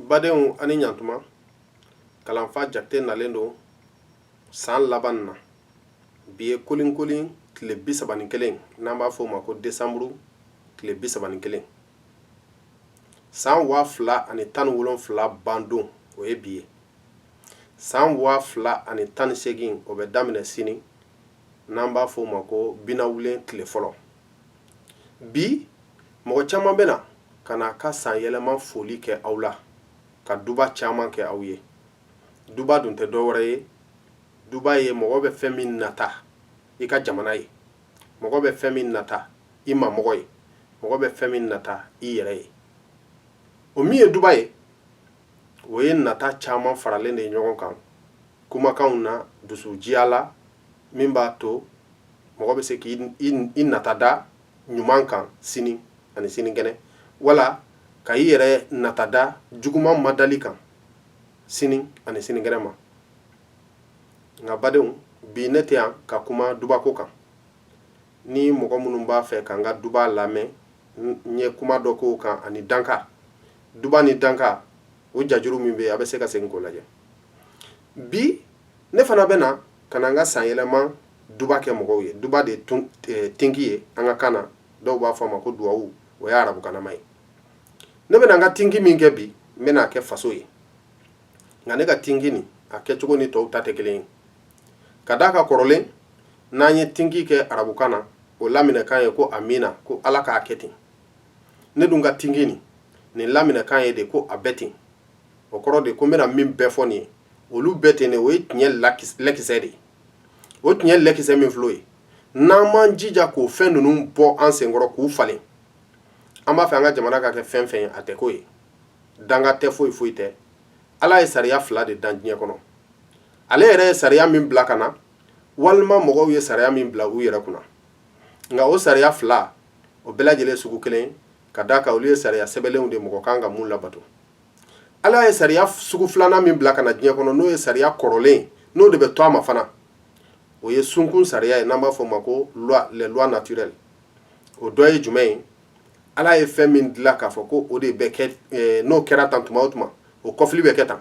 badenw ani ɲantuma kalanfa jakite nalen don san laban na bi ye kolinkolin tile bi saba ni kelen n'an b'a fɔ o ma ko desanburu tile bi saba ni kelen san waa fila ani tan ni wolonfila bandon o ye bi ye san waa fila ani tan ni seegin o bɛ daminɛ sini n'an b'a fɔ o ma ko binawulen tile fɔlɔ bi mɔgɔ caman bɛna ka na ka san yɛlɛma foli kɛ aw la ka duba caman kɛ aw ye duba dun tɛ dɔ wɛrɛ ye duba ye mɔgɔ bɛ fɛn min nata i ka jamana ye mɔgɔ bɛ fɛn min nata i mamɔgɔ ye mɔgɔ bɛ fɛn min nata i yɛrɛ ye o min ye duba ye o ye nata caman faralen de ye ɲɔgɔn kan kumakanw na dusujiya la min b'a to mɔgɔ bɛ se k' i nata da ɲuman kan sini ani sinikɛnɛ wala ka i yɛrɛ nata da juguman madali kan sini ani sinikɛnɛ ma nka badenw bi ne tɛ yan ka kuma dubako kan ni mɔgɔ minnu b'a fɛ ka n ka duba lamɛn n ye kuma dɔ k'o kan ani danka duba ni danka o jajuru min bɛ yen a bɛ se ka segin k'o lajɛ bi ne fana bɛ na ka na n ka san yɛlɛma duba kɛ mɔgɔw ye duba de ye tinki ye an ka kan na dɔw b'a fɔ a ma ko duwawu o ye arabukanama ye ne bɛna n ka tinki min kɛ bi n bɛna a kɛ faso ye nka ne ka tinki nin a kɛcogo ni tɔw ta tɛ kelen ye ka d'a kan kɔrɔlen n'an ye tinki kɛ arabukan na o laminɛkan ye ko amina ko ala k'a kɛ ten ne dun ka tinki nin nin laminɛkan ye de ko a bɛ ten o kɔrɔ de ko n bɛna min bɛɛ fɔ nin ye olu bɛ ten de o ye tiɲɛ lakisɛ de ye o tiɲɛ lakisɛ min filɛ o ye n'an m'an jija k'o fɛn ninnu bɔ an senkɔrɔ k'u falen an b'a fɛ an ka jamana ka kɛ fɛn fɛn ye a tɛ k'o ye danga tɛ foyi foyi tɛ ala ye sariya fila de dan diɲɛ kɔnɔ ale yɛrɛ ye sariya min bila ka na walima mɔgɔw ye sariya min bila u yɛrɛ kunna nka o sariya fila o bɛɛ lajɛlen sugu kelen ka d'a kan olu ye sariya sɛbɛnlenw de mɔgɔ kan ka mun labato ala ye sariya sugu filanan min bila ka na diɲɛ kɔnɔ n'o ye sariya kɔrɔlen n'o de bɛ to a ma fana o ye sunkun sariya ye n'an b'a fɔ o ma ko les lois naturelles o dɔ ye jumɛn ye ala ye fɛn min dilan k'a fɔ ko o de bɛ kɛ eh, n'o kɛra tan tuma o tuma o kɔfili bɛ kɛ tan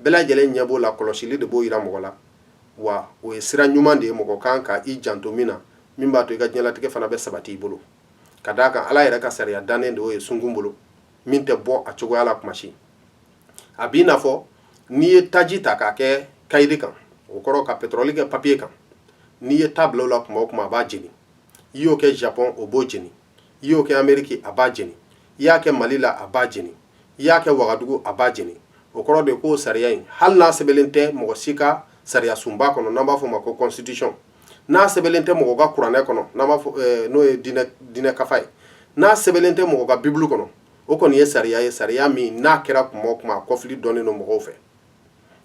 bɛɛ lajɛlen ɲɛ b'o la kɔlɔsili de b'o yira mɔgɔ la wa o ye sira ɲuman de ye mɔgɔ kan ka i janto min na min b'a to i ka diɲɛlatigɛ fana bɛ sabati i bolo ka d'a kan ala yɛrɛ ka sariya dannen de o ye sunkun bolo min tɛ bɔ a cogoya la kuma si a b'i n'a fɔ n'i ye taji ta k'a kɛ kayiri kan o kɔrɔ ka petɔrɔli kɛ papiye kan n'i ye ta bila o la kuma o kuma a b'a jeni i y'o kɛ japɔn o b'o jeni i y'o kɛ ameriki a b'a jeni i y'a kɛ mali la a b'a jeni i y'a kɛ wagadugu a b'a jeni o kɔrɔ de k'o sariya in hali n'a sɛbɛnlen tɛ mɔgɔ si ka sariya sunba kɔnɔ n'an b'a fɔ o ma ko constitution n'a sɛbɛnlen tɛ mɔgɔ ka kuranɛ kɔnɔ n'an b'a fɔ n'o ye diinɛ kafa ye n'a sɛbɛnlen tɛ mɔgɔ ka bibulu kɔnɔ o kɔni ye sariya ye sariya min n'a kɛra kuma o kuma a kɔfili dɔnnen don mɔgɔw fɛ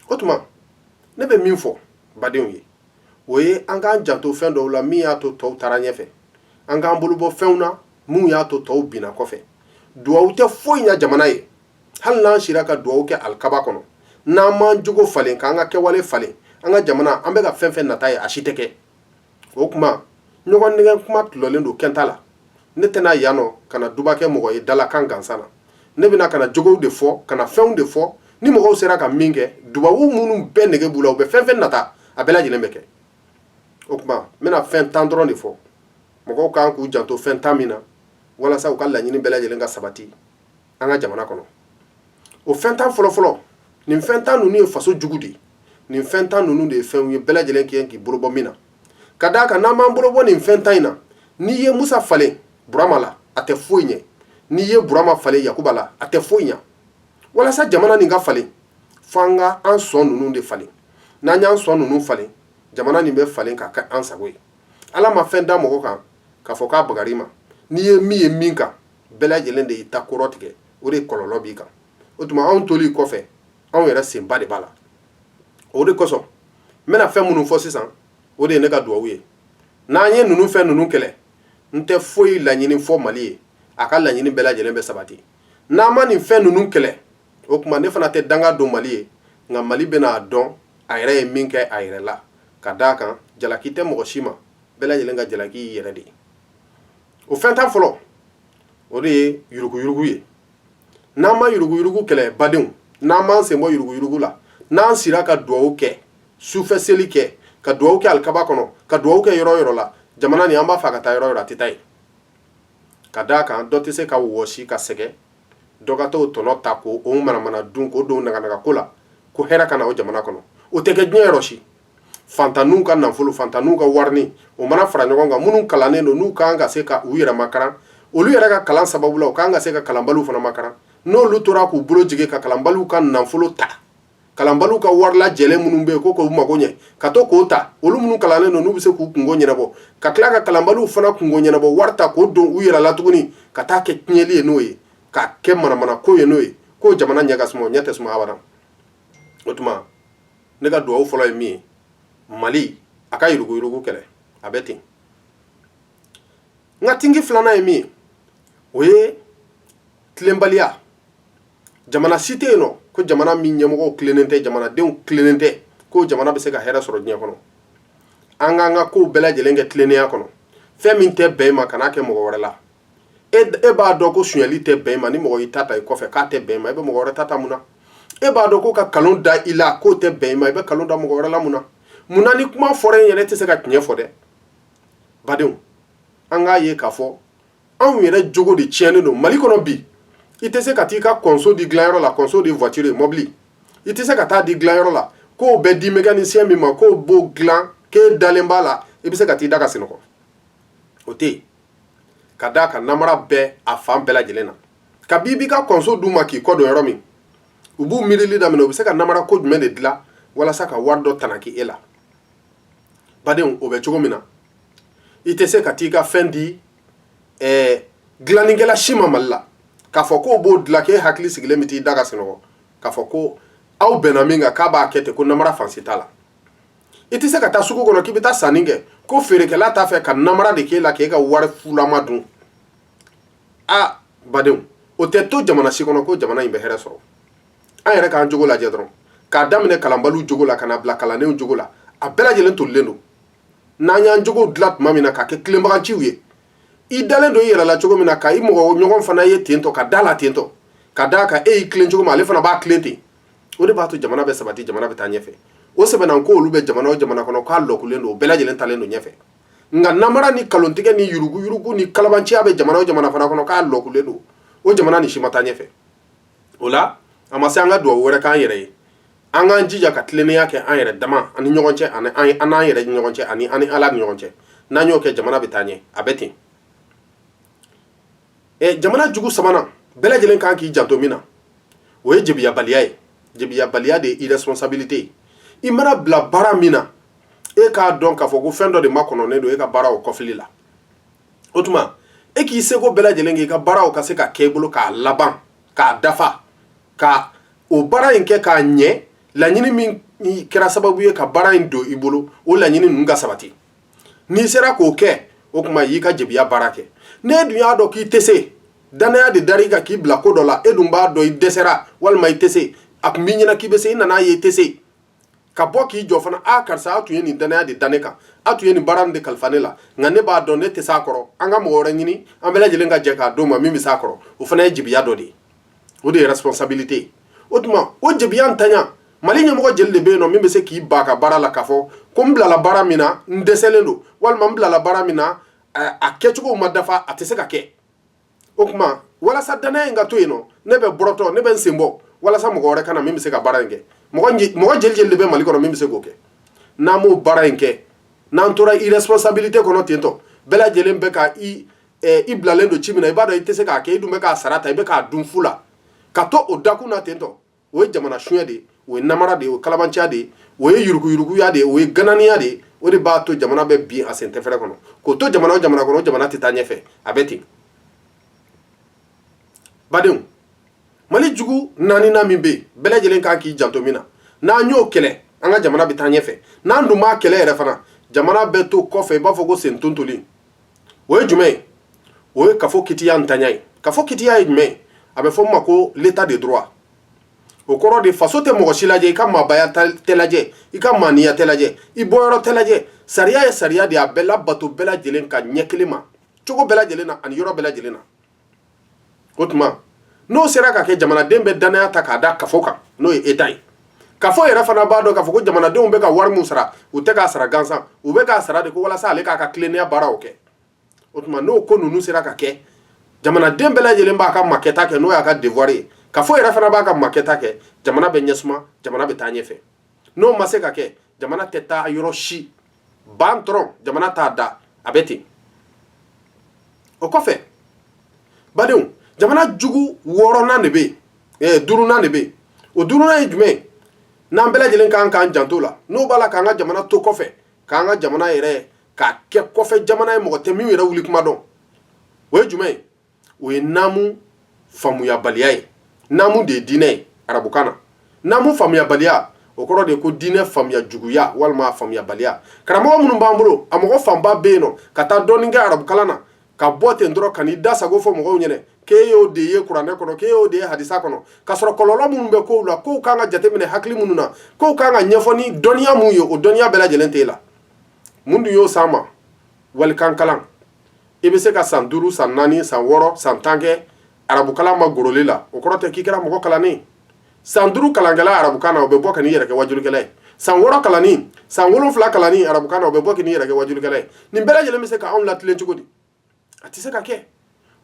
o tuma ne bɛ min fɔ badenw ye o ye an k'an janto fɛn dɔw la min y'a to tɔw taara ɲɛfɛ an k'an bolo bɔ fɛnw na min y'a to tɔw binna kɔfɛ duwawu tɛ foyi ɲɛ jamana ye hali n'an sira ka duwawu kɛ alikaaba kɔnɔ n'an m'an jogo falen k'an ka kɛwale falen an ka jamana an bɛ ka fɛn fɛn nata ye a si tɛ kɛ o tuma ɲɔgɔn nɛgɛn kuma tilɔlen don kɛta la ne tɛna yan nɔ ka na duba kɛ mɔgɔ ye dalakan gansan na ne bɛna ka na jogow de fɔ ka na fɛnw de fɔ ni mɔgɔw sera ka min kɛ dubabu minnu bɛɛ nege b'u la u bɛ fɛn fɛn nata a bɛɛ lajɛlen bɛ kɛ o tuma n bɛna fɛn tan dɔrɔn de fɔ mɔgɔw kan k'u janto fɛn tan min na walasa u ka laɲini bɛɛ lajɛlen ka sabati an ka jamana kɔnɔ o fɛn tan fɔlɔfɔlɔ nin fɛn tan ninnu ye faso jugu de ye nin fɛn tan ninnu de ye fɛnw ye bɛɛ lajɛlen kan k'i bolo bɔ min na ka d'a kan n'an m'an bolo bɔ nin fɛn tan in na n'i ye musa falen burama la a tɛ foyi ɲɛ n'i ye burama falen yakuba la a tɛ foyi ɲɛ walasa jamana nin ka falen fo an ka an sɔn ninnu de falen n'an y'an sɔn ninnu falen jamana nin bɛ falen k'a kɛ an sago ye ala ma fɛn da mɔgɔ kan k'a fɔ k'a bagar'i ma n'i ye min ye min kan bɛɛ lajɛlen de y'i ta kɔrɔ tigɛ o de kɔlɔlɔ b'i kan o tuma anw toli kɔfɛ anw yɛrɛ senba de b'a la o de kosɔn n bɛna fɛn minnu fɔ sisan o de ye ne ka duwawu ye n'an ye ninnu fɛn ninnu kɛlɛ n tɛ foyi laɲini fɔ mali ye a ka laɲini bɛɛ lajɛlen bɛ sabati n'an ma nin fɛn ninnu kɛlɛ o tuma ne fana tɛ danga don mali ye nka mali bɛna a dɔn a yɛrɛ ye min kɛ a yɛrɛ la ka d'a kan jalaki tɛ mɔgɔ si ma bɛɛ lajɛlen ka jalaki y'i yɛrɛ de ye o fɛn tan fɔlɔ o de ye yuruguyurugu ye n'an ma yuruguyurugu kɛlɛ badenw n'an m'an sen bɔ yuruguyurugu la n'an sira ka duwawu kɛ sufɛ seli kɛ ka duwawu kɛ alikaaba kɔnɔ ka duwawu kɛ yɔrɔ yɔrɔ la jamana nin an b'a fɛ ka taa yɔrɔ yɔrɔ a tɛ taa yen ka d'a kan dɔ tɛ se ka wɔsi ka sɛgɛn dɔ ka t'o tɔnɔ ta k'o manamana dun k'o don naganaga ko la ko hɛrɛ ka na o jamana kɔnɔ o tɛ kɛ diɲɛ yɔrɔ si faantanninw ka nafolo faantanninw ka warinin o mana fara ɲɔgɔn kan minnu kalannen don n'u kan ka se ka u yɛrɛ makaran olu yɛrɛ ka kalan sababu la u kan ka se ka kalanbaliw fana makaran n'olu tora k'u bolo jigin ka kalanbaliw ka nafolo ta kalanbaliw ka wari lajɛlen minnu bɛ yen ko k'u mago ɲɛ ka to k'o ta olu minnu kalannen don n'u bɛ se k'u kunko ɲɛnabɔ ka tila ka kalanbaliw fana kunko ɲɛnabɔ wari ta k'o don u yɛrɛ la tuguni ka taa kɛ tiɲɛli ye n'o ye k'a kɛ manamana ko ye n'o ye ko jamana ɲɛ ka suma ɲɛ tɛ suma abada o tuma ne ka dugawu fɔlɔ ye min ye mali a ka yuruguyurugu kɛlɛ a bɛ ten n ka tinki filanan ye min ye o ye tilenbaliya jamana si tɛ yen nɔ ko jamana min ɲɛmɔgɔw tilennen tɛ jamanadenw tilennen tɛ ko jamana bɛ se ka hɛrɛ sɔrɔ diɲɛ kɔnɔ an k'an ka kow bɛɛ lajɛlen kɛ tilennenya kɔnɔ fɛn min tɛ bɛn i ma kan'a kɛ mɔgɔ wɛrɛ la e e b'a dɔn ko sonyali tɛ bɛn i ma ni mɔgɔ y'i ta ta i kɔfɛ k'a tɛ bɛn i ma i bɛ mɔgɔ wɛrɛ ta ta mun na e b'a dɔn ko ka nkalon da i la k'o tɛ bɛn i ma i bɛ nkalon da mɔgɔ wɛrɛ la mun na mun na ni kuma fɔra e yɛrɛ tɛ se ka tiɲɛ fɔ dɛ badenw an k'a ye k'a fɔ anw yɛrɛ jogo de tiɲɛnen don mali kɔnɔ bi i tɛ se ka taa i ka kɔnso di dilanyɔrɔ la kɔnso de voiture ye mɔbili i tɛ se ka t'a di dilanyɔrɔ la k'o bɛ di mécanicien min ma k'o b'o dilan k'e dalen b'a la i bɛ se ka t'i da ka sunɔgɔ o tɛ yen ka da a kan namara bɛɛ a fan bɛɛ lajɛlen na kabi i b'i ka kɔnso d'u ma k'i kɔ don yɔrɔ min u b'u miirili daminɛ u bɛ se ka namara ko jumɛn de dilan walasa ka wari dɔ tanaki e la badenw o bɛ cogo min na i tɛ se ka taa i ka fɛn di ɛɛ dilannikɛla si ma mali la k'a fɔ ko o b'o dilan k'e hakili sigilen bɛ t'i da ka sunɔgɔ k'a fɔ ko aw bɛnna min kan k'a b'a kɛ ten ko namara fan si t'a la i tɛ se ka taa sugu kɔnɔ k'i bɛ taa sanni kɛ ko feerekɛla t'a fɛ ka namara de k'e la k'e ka wari fulama dun a badenw o tɛ to jamana si kɔnɔ ko jamana in bɛ hɛrɛ sɔrɔ an yɛrɛ k'an jogo lajɛ dɔrɔn k'a daminɛ kalanbaliw jogo la ka na bila kalannenw jogo la a bɛɛ lajɛlen tolilen don n'an y'an jogo dilan tuma min na k'a kɛ tilenbagaciw ye i dalen don i yɛrɛ la cogo min na ka i mɔgɔ ɲɔgɔn fana ye ten tɔ ka da la ten tɔ ka da kan e y'i tilen cogo min ale fana b'a tilen ten o de b'a to jamana bɛ sabati jamana bɛ taa ɲɛfɛ o sɛbɛnna ko olu bɛ jamana o jamana kɔnɔ k'a lɔkulen don bɛɛ lajɛlen taalen don ɲɛfɛ nka namara ni nkalontigɛ ni yuruguyurugu ni kalabanciya bɛ jamana o jamana fana kɔnɔ k'a lɔkulen don o jamana ni si ma taa ɲɛfɛ o la a ma se an ka dugawu wɛrɛ k'an yɛrɛ ye an k'an jija ka tilennenya kɛ an yɛrɛ dama ani ɲɔgɔn cɛ ani an n'an yɛrɛ ni ɲɔgɔn cɛ ani an ni ala ni ɲɔgɔn cɛ n'an y'o kɛ jamana bɛ taa ɲɛ a bɛ ten jamana jugu sabanan bɛɛ lajɛlen kan k'i janto min na o ye jebiyabaliya ye jebiyabaliya de ye irresponsabilité ye i mana bila baara min na e k'a dɔn k'a fɔ ko fɛn dɔ de makɔnɔnen don e ka baara o kɔfili la o tuma e k'i seko bɛɛ lajɛlen k'i ka baaraw ka se ka kɛ i bolo k'a laban k'a dafa ka o baara in kɛ k'a ɲɛ laɲini min kɛra sababu ye ka baara in don i bolo o laɲini ninnu ka sabati n'i sera k'o kɛ o tuma i y'i ka jebiya baara kɛ n'e dun y'a dɔn k'i tɛ se danaya de dar'i kan k'i bila ko dɔ la e dun b'a dɔn i dɛsɛra walima i tɛ se a tun b'i ɲɛna k'i bɛ se i nan'a ye i tɛ se ka bɔ k'i jɔ fana aa karisa a tun ye nin danaya de da ne kan a tun ye nin baara nin de kalifa ne la nka ne b'a dɔn ne tɛ s'a kɔrɔ an ka mɔgɔ wɛrɛ ɲini an bɛɛ lajɛlen ka jɛn k'a d'o ma min bɛ s'a kɔrɔ o fana ye jebiya dɔ de ye o de ye responsabilité ye o tuma o jebiya ntanya mali ɲɛmɔgɔ jeli de bɛ yen nɔ min bɛ se k'i ba ka baara la k'a fɔ ko n bilala baara min na n dɛsɛlen don walima n bilala baara min na a kɛcogow ma dafa a tɛ se ka kɛ o tuma walasa danaya in ka to yen nɔ ne bɛ bɔrɔtɔ ne bɛ n sen bɔ walasa mɔgɔ wɛrɛ ka na min bɛ se ka baara in kɛ mɔgɔ jeli jeli de bɛ mali kɔnɔ min bɛ se k'o kɛ n'an m'o baara in kɛ n'an tora irresponsabilité kɔnɔ tentɔ bɛɛ lajɛlen bɛ ka i i bilalen don ci min na i b'a dɔn i tɛ se k'a kɛ i dun bɛ k'a sara ta i bɛ k'a dun fu la ka to o dakun na tentɔ o ye jamana suɲɛ de ye o ye namara de ye o ye kalabanciya de ye o ye yuruguyuruguya de ye o ye gananiya de ye o de b'a to jamana bɛ bin a sen tɛfɛrɛ kɔnɔ k'o to jamana o jamana kɔnɔ o jamana tɛ taa ɲɛfɛ a bɛ ten badenw mali jugu naaninan min bɛ yen bɛɛ lajɛlen kan k'i janto min na n'an y'o kɛlɛ an ka jamana bɛ taa ɲɛfɛ n'an dun m'a kɛlɛ yɛrɛ fana jamana bɛ to kɔfɛ i b'a fɔ ko sen tontolen o ye jumɛn ye o ye kafo kitiya ntanya ye kafo kitiya ye jumɛn ye a bɛ fɔ min ma ko l'état de droit o kɔrɔ de faso tɛ mɔgɔ si lajɛ i ka maabaya tɛ lajɛ i ka maaniya tɛ lajɛ i bɔyɔrɔ tɛ lajɛ sariya ye sariya de ye a bɛ labato bɛɛ lajɛlen kan ɲɛ kelen ma cogo bɛɛ lajɛlen na ani yɔrɔ bɛɛ lajɛlen na o tuma n'o sera ka kɛ jamanaden bɛ danaya ta k'a da kafo kan n'o ye état ye kafo yɛrɛ fana b'a dɔn k'a fɔ ko jamanadenw bɛ ka wari min sara u tɛ k'a sara gansan u bɛ k'a sara de ko walasa ale k'a ka tilennenya baaraw kɛ o tuma n'o ko ninnu sera ka kɛ jamanaden bɛɛ lajɛlen b'a ka makɛta kɛ n'o y'a ka devoir ye kafo yɛrɛ fana b'a ka makɛta kɛ jamana bɛ ɲɛsuma jamana bɛ taa ɲɛfɛ n'o ma se ka kɛ jamana tɛ taa yɔrɔ si ban dɔrɔn jamana t'a da a bɛ ten o kɔfɛ badenw jamana jugu wɔɔrɔnan de bɛ yen eh, duurunan de bɛ yen o duurunan ye jumɛn ye n'an bɛɛ lajɛlen kan k'an janto la n'o b'a la k'an ka jamana to kɔfɛ k'an ka jamana yɛrɛ k'a kɛ kɔfɛ jamana ye mɔgɔ tɛ min yɛrɛ wuli kuma dɔn o ye jumɛn ye o ye namu faamuyabaliya ye namu de ye diinɛ ye arabukan na namu faamuyabaliya o kɔrɔ de ye ko diinɛ faamuya juguya walima faamuyabaliya karamɔgɔ minnu b'an bolo a mɔgɔ fanba bɛ yen nɔ ka taa dɔɔni kɛ arabukalan na ka bɔ ten dɔrɔn ka n'i da sago fɔ mɔgɔw ɲɛna k'e y'o de ye kuranɛ kɔnɔ k'e y'o de ye hadisa kɔnɔ k'a sɔrɔ kɔlɔlɔ minnu bɛ kow la kow kan ka jateminɛ hakili minnu na kow kan ka ɲɛfɔ ni dɔnniya minnu ye o dɔnniya bɛɛ lajɛlen t'e la mun dun y'o s'an ma walikan kalan i bɛ se ka san duuru san naani san wɔɔrɔ san tan kɛ arabukalan ma goroli la o kɔrɔ tɛ k'i kɛra mɔgɔ kalannen san duuru kalankɛla arabukan na o bɛ bɔ ka n'i yɛrɛ kɛ wajulikɛla ye san wɔɔrɔ kalanni san wolonfila kalanni arabukan na o bɛ bɔ ka n'i yɛrɛ kɛ wajulikɛla ye nin bɛɛ lajɛlen bɛ se k'an latilen cogo di a tɛ se ka kɛ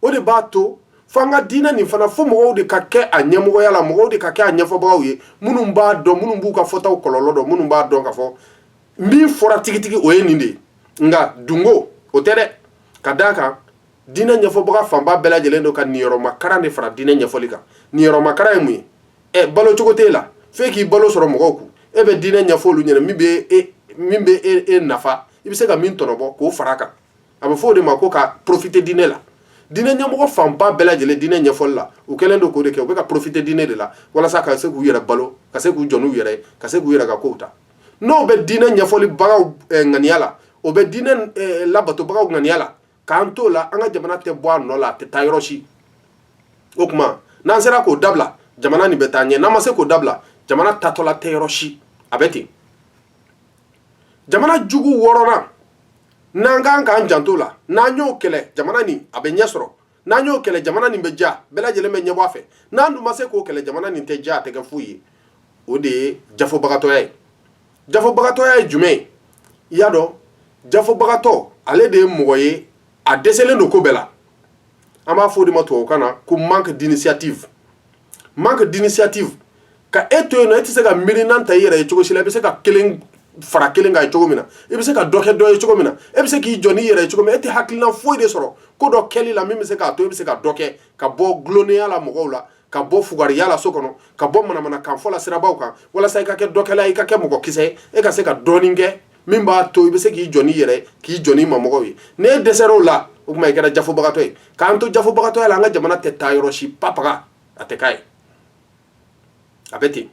o de b'a to fo an ka diinɛ nin fana fo mɔgɔw de ka kɛ a ɲɛmɔgɔya la mɔgɔw de ka kɛ a ɲɛfɔbagaw ye minnu b'a dɔn minnu b'u ka fɔtaw kɔlɔlɔ dɔn minnu b'a dɔn ka fɔ min fɔra tigitigi o ye nin de ye nka dungo o tɛ dɛ ka d'a kan diinɛ ɲɛfɔbaga fanba bɛɛ lajɛlen don ka niyɔrɔmakaran de fara diinɛ ɲɛfɔli kan niyɔrɔmakaran ye mun ye ɛ balo cogo t'e la f'e k'i balo sɔrɔ mɔgɔw kun e bɛ diinɛ ɲɛfɔ olu ɲɛna min bɛ e min bɛ e, e nafa i bɛ se ka min tɔnɔbɔ k'o fara a kan a bɛ fɔ o de ma ko ka profiter diinɛ la diinɛ ɲɛmɔgɔ fanba bɛɛ lajɛlen diinɛ ɲɛfɔli la u kɛlen don k'o de kɛ u bɛ ka profiter diinɛ de la walasa ka se k'u yɛrɛ balo ka se k'u jɔ n'u yɛrɛ ka se k'u yɛrɛ ka kow ta n'o bɛ diinɛ ɲɛfɔlibagaw eh, ŋaniya la o bɛ diinɛ eh, labatobagaw ŋaniya la k'an t'o la an ka jamana tɛ bɔ a nɔ la a tɛ taa yɔrɔ si o tuma n'an sera k'o dabila jamana nin bɛ taa ɲɛ n'an ma se k'o dabila jamana taatɔla tɛ yɔrɔ si a bɛ ten jamana jugu wɔɔrɔnan n'an kan k'an janto la n'an y'o kɛlɛ jamana nin a bɛ ɲɛ sɔrɔ n'an y'o kɛlɛ jamana nin bɛ diya bɛɛ lajɛlen bɛ ɲɛbɔ a fɛ n'an dun ma se k'o kɛlɛ jamana nin tɛ diya a tɛ kɛ foyi ye o de ye jafobagatɔya ye jafobagatɔya ye jumɛn ye i y'a dɔn jafobagatɔ ale de ye mɔgɔ ye a dɛsɛlen don ko bɛɛ la an b'a fɔ o de ma tubabukan na ko manque d'initiative Manque d'initiative ka e to yen nɔ e tɛ se ka miirina ta i yɛrɛ ye cogo si la i bɛ se ka kelen fara kelen kan ye cogo min na i bɛ se ka dɔ kɛ dɔ ye cogo min na e bɛ se k'i jɔ n'i yɛrɛ ye cogo min na e tɛ hakilina foyi de sɔrɔ ko dɔ kɛli la min bɛ se k'a to e bɛ se ka dɔ kɛ ka bɔ dulonnenya la mɔgɔw la ka bɔ fugariya la so kɔnɔ ka bɔ manamanakanfɔ la sirabaw kan walasa i ka kɛ dɔkɛla ye i ka kɛ mɔgɔkisɛ ye e ka se ka dɔɔnin kɛ min b'a to i bɛ se k'i jɔ n'i yɛrɛ k'i jɔ n'i mamɔgɔw ye n'e dɛsɛra o la o tuma i kɛra jafobagatɔ ye k'an to jafobagatɔya la an ka jamana tɛ taa yɔrɔ si papaga a tɛ k'a ye a bɛ ten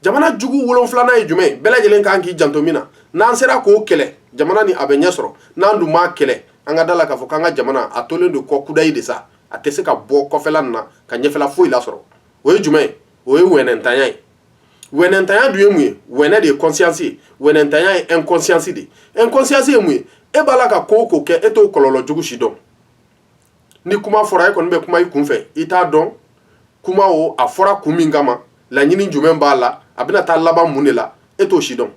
jamana jugu wolonfilanan ye jumɛn ye bɛɛ lajɛlen kan k'i janto min na n'an sera k'o kɛlɛ jamana nin a bɛ ɲɛ sɔrɔ n'an dun m'a kɛlɛ an ka da la k'a fɔ k'an ka jamana a tolen don kɔ kudayi de sa a tɛ se ka bɔ kɔfɛla na ka ɲɛfɛla foyi lasɔrɔ o ye jumɛn ye o ye hinɛntanya ye wɛnɛntanya dun ye mun ye wɛnɛ de ye conscience ye wɛnɛntanya ye inconscience de ye inconscience ye mun ye e b'a la ka ko o ko kɛ e t'o kɔlɔlɔ jugu si dɔn ni kuma fɔra e kɔni bɛ kuma i kunfɛ i t'a dɔn kuma o a fɔra kun min kama laɲini jumɛn b'a la a bɛna taa laban mun de la e t'o si dɔn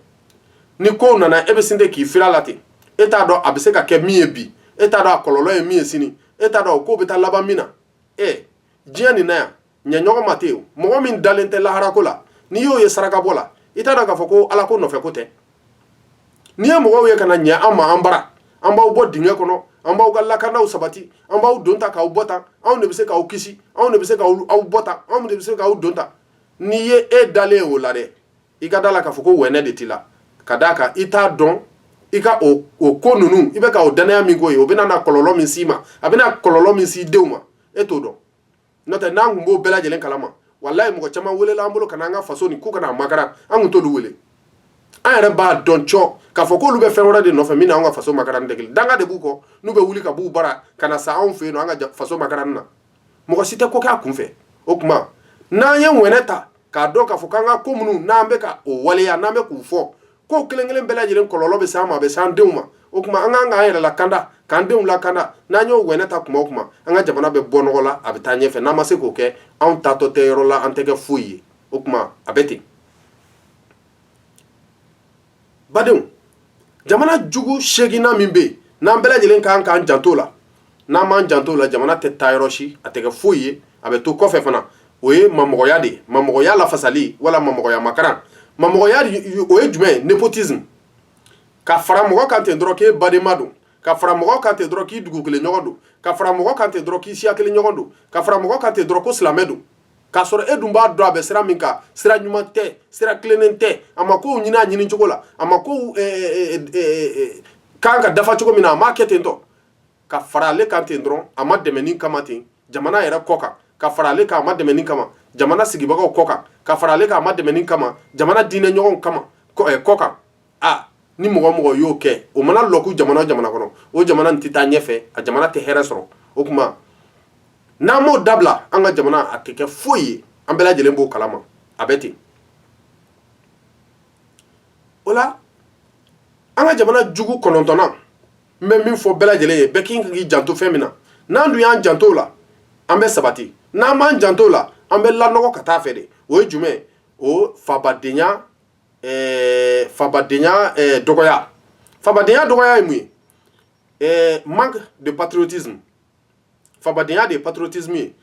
ni kow nana e bɛ sin de k'i fir'a la ten e t'a dɔn a bɛ se ka kɛ min ye bi e t'a dɔn a kɔlɔlɔ ye min ye sini e t'a dɔn o ko bɛ taa laban min na ɛ diɲɛ nin na yan ɲɛɲɔgɔn ma ten mɔgɔ min dalen tɛ laharako la n'i y'o ye sarakabɔ la i t'a dɔn k'a fɔ ko ala ko nɔfɛ ko tɛ n'i ye mɔgɔw ye ka na ɲɛ an ma an bara an b'aw bɔ dingɛ kɔnɔ an b'aw ka lakanaw sabati an b'aw don tan k'aw bɔ tan anw de bɛ se k'aw kisi anw de bɛ se k'aw bɔ tan anw de bɛ se k'aw don tan n'i ye e dalen y'o la dɛ i ka d'a la k'a fɔ ko wɛnɛ de t'i la ka d'a kan i t'a dɔn i ka o ko ninnu i bɛ ka o dannaya min k'o ye o bɛna na kɔlɔlɔ min s'i ma a bɛna kɔlɔlɔ min s'i denw ma e t'o dɔn N'o tɛ n'an tun b'o bɛɛ lajɛlen kalama walahi mɔgɔ caman welela an bolo ka na an ka faso nin k'u ka na a makaran an tun t'olu wele, an yɛrɛ b'a dɔn cɔ k'a fɔ k'olu bɛ fɛn wɛrɛ de nɔfɛ min n'anw ka faso makaranni tɛ kelen ye, danga de b'u kɔ n'u bɛ wuli ka b'u bara ka na sa anw fɛ yen an ka faso makaran na, mɔgɔ si tɛ ko kɛ a kunfɛ, o tuma n'an ye wɛnɛ ta k'a dɔn k'a fɔ k'an ka ko minnu n'an bɛ ka o waleya n'an bɛ k'u fɔ ko kelen kelen bɛɛ lajɛlen kɔlɔlɔ bɛ s'an ma a bɛ s'an denw ma o kuma an kan k'an yɛrɛ lakanda k'an denw lakanda n'an y'o wɛnɛ ta kuma o kuma an ka jamana bɛ bɔ nɔgɔ la a bɛ taa ɲɛfɛ n'an ma se k'o kɛ anw taatɔ tɛ yɔrɔ la an tɛ kɛ foyi ye o kuma a bɛ ten badenw jamana jugu seginnan min bɛ yen n'an bɛɛ lajɛlen kan k'an janto la n'an m'an janto la jamana tɛ taa yɔrɔ si a tɛ kɛ foyi ye a bɛ to kɔfɛ fana o ye mamɔgɔya de ye mamɔgɔya lafasali wala mamɔgɔya makaran mamɔgɔya o ye jumɛn ye nepotisme ka fara mɔgɔ kan ten dɔrɔn k'e badenma don ka fara mɔgɔ kan ten dɔrɔn k'i dugu kelen ɲɔgɔn don ka fara mɔgɔ kan ten dɔrɔn k'i siya kelen ɲɔgɔn don ka fara mɔgɔ kan ten dɔrɔn ko silamɛ don k'a sɔrɔ e dun b'a dɔn a bɛ sira min kan sira ɲuman tɛ sira tilennen tɛ a ma kow ɲini a ɲini cogo la a makow kan ka dafa cogo min na a m'a kɛ ten tɔ ka fara ale kan ten dɔrɔn a madɛmɛni kama ten jamana yɛrɛ kɔ kan ka fara ale kan a madɛmɛni kama jamana sigibagaw kɔ kan ka fara ale kan a madɛmɛni kama jamana diinɛ ɲɔgɔnw kama kɔ kan aa ni mɔgɔ o mɔgɔ y'o kɛ o mana lɔku jamana o jamana kɔnɔ o jamana in tɛ taa ɲɛfɛ a jamana tɛ hɛrɛ sɔrɔ o kuma n'an m'o dabila an ka jamana a tɛ kɛ foyi ye an bɛɛ lajɛlen b'o kalama a bɛ ten o la an ka jamana jugu kɔnɔntɔnnan n bɛ min fɔ bɛɛ lajɛlen ye bɛɛ kan k'i janto fɛn min na n'an dun y'an janto o la an bɛ sabati n'an m'an janto o la an bɛ lanɔgɔ ka t'a fɛ de o ye jumɛn ye o fabadenya ɛɛ fabadenya ɛɛ dɔgɔya fabadenya dɔgɔya ye mun ye ɛɛ manque de patriotisme fabadenya de ye patriotisme ye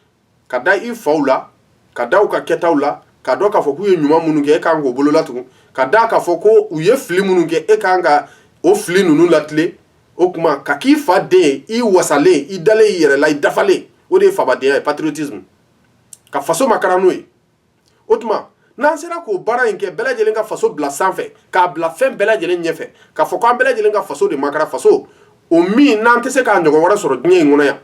ka da i faw la ka da u ka kɛtaw la k'a dɔn k'a fɔ k'u ye ɲuman minnu kɛ e kan k'o bolola tugun ka da k'a fɔ ko u ye fili minnu kɛ e kan ka o fili ninnu latilen o tuma ka k'i fa den ye i wasalen i dalen i yɛrɛ la i dafalen o de ye fabadenya ye patriotisme ka faso makaran n'o ye o tuma n'an sera k'o baara in kɛ bɛɛ lajɛlen ka faso bila sanfɛ k'a bila fɛn bɛɛ lajɛlen ɲɛfɛ k'a fɔ k'an bɛɛ lajɛlen ka faso de makaran faso o min n'an tɛ se k'a ɲɔgɔn wɛrɛ sɔrɔ diɲɛ in kɔnɔ yan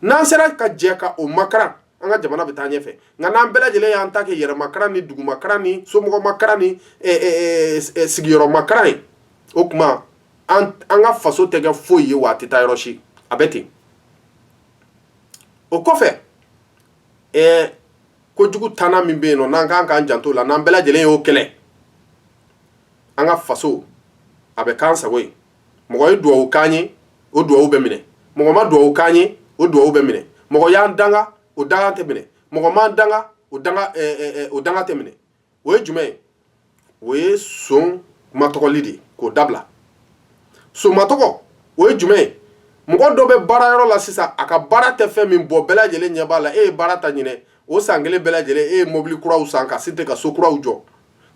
n'an sera ka jɛ ka o makaran an ka jamana bɛ taa ɲɛfɛ nka n'an bɛɛ lajɛlen y'an ta kɛ yɛrɛmakaran ni dugumakaran ni somɔgɔmakaran ni sigiyɔrɔmakaran ye o tuma an ka faso tɛ kɛ foyi ye wa a tɛ taa yɔrɔ si a bɛ ten o kɔfɛ ɛɛ kojugu tannan min bɛ yen nɔ n'an kan k'an janto o la n'an bɛɛ lajɛlen y'o kɛlɛ an ka faso a bɛ k'an sago ye mɔgɔ ye duwawu k'an ye o duwawu bɛ minɛ mɔgɔ ma duwawu k'an ye o duwawu bɛ minɛ mɔgɔ y'an danga o danga tɛ minɛ mɔgɔ m'an danga o danga ɛɛ o danga tɛ minɛ o ye jumɛn ye o ye son matɔgɔli de ye k'o dabila son matɔgɔ o ye jumɛn ye mɔgɔ dɔ bɛ baara yɔrɔ la sisan a ka baara tɛ fɛn min bɔ bɛɛ lajɛlen ɲɛ b'a la e ye baara ta ɲinɛ o san kelen bɛɛ lajɛlen e ye mobili kuraw san ka site ka so kuraw jɔ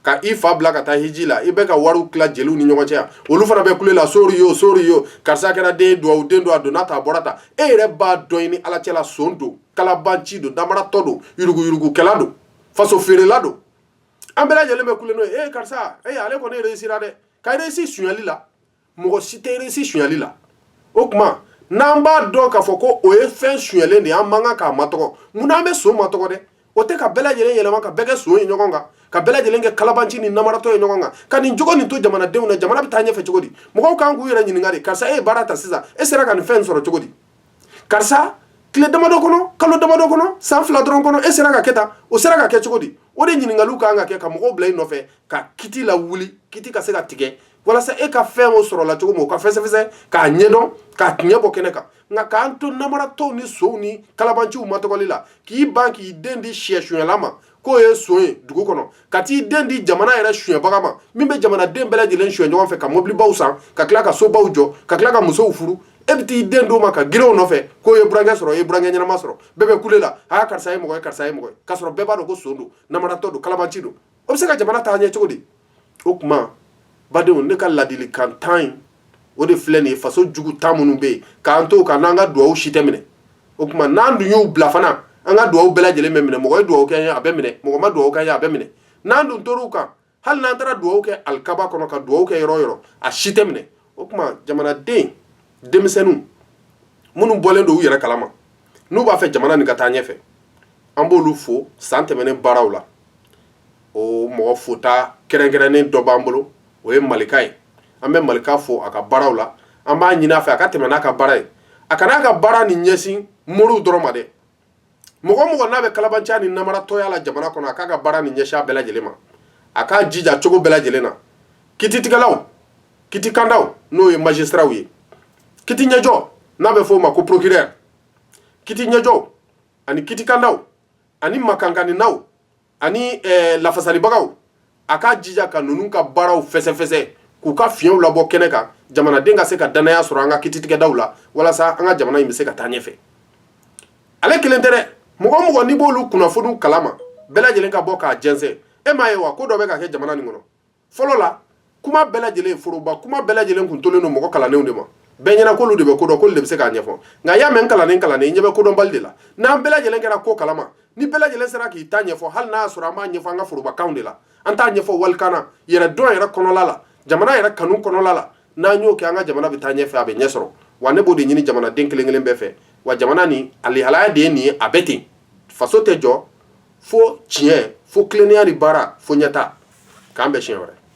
ka i fa bila ka taa hiji la i bɛ ka wariw tila jeliw ni ɲɔgɔn cɛ yan olu fana bɛ kule la sori yo sori yo karisa kɛra den duwawu den don a donna tan a bɔra tan e yɛrɛ b'a dɔn i ni ala cɛla son don kalabanci don namaratɔ don yuruguyurugukɛla don faso feerela don an bɛɛ lajɛlen bɛ kule l'o ye ee karisa ee ale kɔni réussira dɛ ka réussi sonyali la mɔgɔ si tɛ réussi sonyali la o tuma n'an b'a dɔn k'a fɔ ko o ye fɛn sonyalen de ye an man kan k'a matɔgɔ munna an bɛ son matɔgɔ dɛ o tɛ ka bɛɛ lajɛlen yɛlɛma ka bɛɛ kɛ son ye ɲɔgɔn kan ka bɛɛ lajɛlen kɛ kalabanci ni namaratɔ ye ɲɔgɔn kan ka nin jogo nin to jamanadenw na jamana bɛ taa ɲɛfɛ cogo di mɔgɔw kan k'u yɛrɛ ɲininka de karisa e ye baara ta sisan e sera ka nin fɛn sɔrɔ cogo di karisa tile damadɔ kɔnɔ kalo damadɔ kɔnɔ san fila dɔrɔn kɔnɔ e sera ka kɛ tan o sera ka kɛ cogo di o de ɲininkaliw ka kan ka kɛ ka mɔgɔw bila i nɔfɛ ka kiti lawuli kiti ka se ka tigɛ walasa e ka fɛn o sɔrɔla cogo min o ka fɛsɛfɛsɛ k'a ɲɛdɔn k'a tiɲɛ bɔ kɛnɛ kan nka k'an to namaratɔw ni sonw ni kalabanciw matɔgɔli la k'i ban k'i den di siyɛsunyala ma k'o ye son ye dugu kɔnɔ ka t'i den di jamana yɛrɛ suɲɛbaga ma min bɛ jamanaden bɛɛ lajɛlen suɲɛ ɲɔgɔn fɛ ka mobilibaw san ka tila ka sobaw jɔ ka tila ka musow furu e bɛ t'i den d'o ma ka girin u nɔfɛ k'o ye burankɛ sɔrɔ o ye burankɛ ɲɛnama sɔrɔ bɛɛ bɛ kule la aa karisa ye mɔgɔ ye karisa ye mɔgɔ ye k'a sɔrɔ bɛɛ b'a dɔn ko son don namaratɔ don kalabanci don o bɛ se ka jamana taa ɲɛ cogo di o tuma badenw ne ka ladili kan tan in o de filɛ nin ye faso jugu tan minnu bɛ yen k'an to ka n'an ka dugawu si tɛ minɛ o tuma n'an dun y'u bila fana an ka dugawu bɛɛ lajɛlen bɛ minɛ mɔgɔ ye dugawu kɛ i ye a bɛ minɛ mɔgɔ ma dugawu kɛ i ye a bɛ minɛ n'an dun tor'u kan hali n'an taara dugawu kɛ alikaba kɔnɔ ka dugawu kɛ yɔrɔ o yɔrɔ a si tɛ minɛ o tuma jamanaden denmisɛnninw minnu bɔlen don u yɛrɛ kalama n'u b'a fɛ jamana nin ka taa ɲɛfɛ an b'olu fo san tɛmɛnen baaraw la o mɔgɔ fota kɛrɛnkɛrɛnnen dɔ b'an bolo o ye malika ye an bɛ malika fo a ka baaraw la an b'a ɲini a fɛ a ka tɛmɛ n'a ka baara ye a kana a ka baara nin ɲɛsin moriw dɔrɔn ma dɛ mɔgɔ o mɔgɔ n'a bɛ kalabanciya ni namaratɔya la jamana kɔnɔ a k'a ka baara nin ɲɛsin a bɛɛ lajɛlen ma a k'a jija cogo bɛɛ lajɛlen na kititigɛlaw kiti kandaw n'o ye magistrats ye kiti ɲɛjɔ n'a bɛ f'o ma ko procureur kiti ɲɛjɔ ani kiti kandaw ani makankaninaw ani lafasalibagaw a k'a jija ka ninnu ka baaraw fɛsɛfɛsɛ k'u ka fiɲɛw labɔ kɛnɛ kan jamanaden ka se ka dannaya sɔrɔ an ka kititigɛdaw la walasa an ka jamana in bɛ se ka taa ɲɛfɛ ale kelen tɛ dɛ mɔgɔ o mɔgɔ n'i b'olu kunnafoniw kalama bɛɛ lajɛlen ka bɔ k'a jɛnsɛn e m'a ye wa ko dɔ bɛ ka kɛ jamana nin kɔnɔ fɔlɔ la kuma bɛɛ lajɛlen foroba kuma bɛɛ lajɛlen tun tolen don mɔgɔ kalannenw de ma bɛɛ ɲɛna k'olu de bɛ ko dɔn k'olu de bɛ se k'a ɲɛfɔ nka y'a mɛn kalannen i ɲɛ bɛ kodɔnbali de la n'an bɛɛ lajɛlen kɛra ko kalama ni bɛɛ lajɛlen sera k'i ta ɲɛfɔ hali n'a y'a sɔrɔ an b'a ɲɛfɔ an ka forobakanw de la an t'a ɲɛfɔ walikan na yɛrɛdɔn yɛrɛ kɔnɔla la jamana yɛrɛ kanu kɔnɔla la n'an y'o kɛ an ka jamana bɛ taa ɲɛfɛ a bɛ ɲɛ sɔrɔ wa ne b'o de ɲini jamanaden kelen kelen bɛɛ fɛ wa jamana nin alihalaya de ye nin ye a bɛ ten faso tɛ jɔ fo tiɲɛ fo tilennenya ni baara fo ɲɛtaa k'an bɛn siɲɛ wɛrɛ